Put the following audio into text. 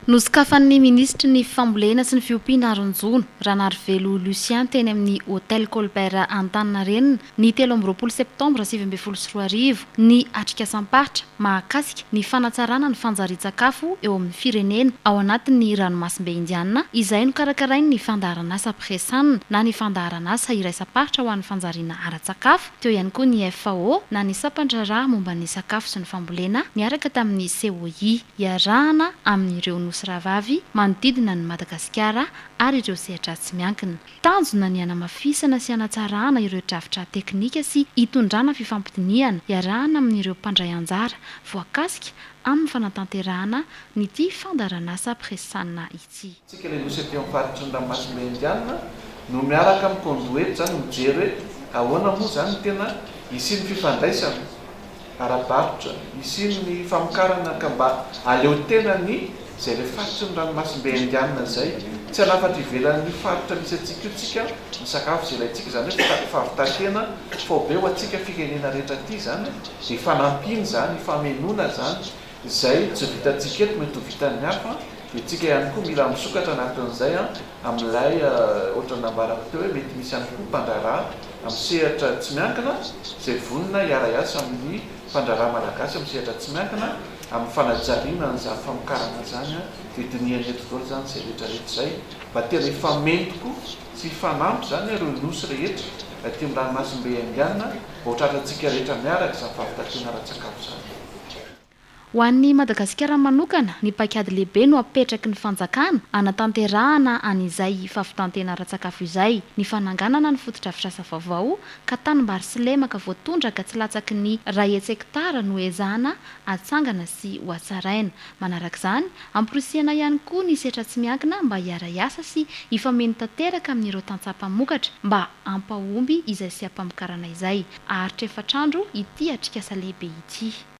Nosokafan'ny minisitry ny Fambolena sy ny fiompiana Aronjono Ranarivelo Lucien teny amin'ny Hotel Colbert Antaninarenina ny telo amby roapolo septambra sivy ambin'ny folo sy roa arivo ny atrikasam-paritra mahakasika ny fanatsarana ny fanjarian-tsakafo eo amin'ny firenena ao anatin'ny ranomasimbe Indiana izay nokarakarain'ny fandaharanasa Pressana na ny fandaharanasa iraisam-paritra ho an'ny fanjariana ara-tsakafo teo ihany koa ny FAO na ny sampandraharaha momba ny sakafo sy ny fambolena niaraka tamin'ny COI. iarahana amin'ireo nosy rahavavy manodidina an'i Madagasikara ary ireo sehadratsy miankina. Tanjona ny hanamafisana sy hanatsarana ireo drafitra teknika sy hitondrana fifampidinihana iarahana amin'ireo mpandray anjara voakasika amin'ny fanatanterahana an'ity fandaharanasa Presana ity. Isika ilay nosy aty amin'ny faritry ny ranomasimbe indianina no miaraka amin'ny conduit zany mijery hoe ahoana moa zany ny tena hisian'ny fifandraisana ara-barotra, hisian'ny famokarana ka mba aleo tena ny zay ilay faritry ny ranomasimbe indianina zay, tsy hanafatra ivelan'ny faritra misy antsika io tsika ny sakafo zay ilaintsika zany hoe fitaky favitan-tena faobe ho antsika firenena rehetra aty zany dia fanampiana zany, famenoana zany Izay tsy vitantsika eto mety ho vitan'ny hafa, dia tsika ihany koa mila misokatra anatin'izay amin'ilay ohatran'ny nambarako teo hoe mety misy ihany koa mpandraharaha amin'ny sehatra tsy miankina izay vonona hiara-hiasa amin'ny mpandraharaha malagasy amin'ny sehatra tsy miankina amin'ny fanajariana an'izany famokarana izany dia dinihana eto daholo izany izay rehetra rehetra izay mba tena hifamehy tokoa sy hifanampy izany ireo nosy rehetra aty amin'ny ranomasimbe Indiana mba ho tratrantsika rehetra miaraka izany fahavitantena ara-tsakafo izany. Ho an'ny Madagasikara manokana, ny paikady lehibe no apetraky ny fanjakana hanatanterahana an'izay fahavitan-tena ara-tsakafo izay, ny fananganana ny fotodrafitrasa vaovao ka tanimbary sy lemaka voatondraka tsy latsaky ny iray hetshektara no ezahana hatsangana sy hohatsaraina. Manarak'izany, amporisihana ihany koa ny setra tsy miankina mba hiara-hiasa sy hifameno tanteraka amin'ireo tantsaha mpamokatra mba hampahomby izay seha-pamokarana izay. Haharitra efatr'andro ity atrikasa lehibe ity.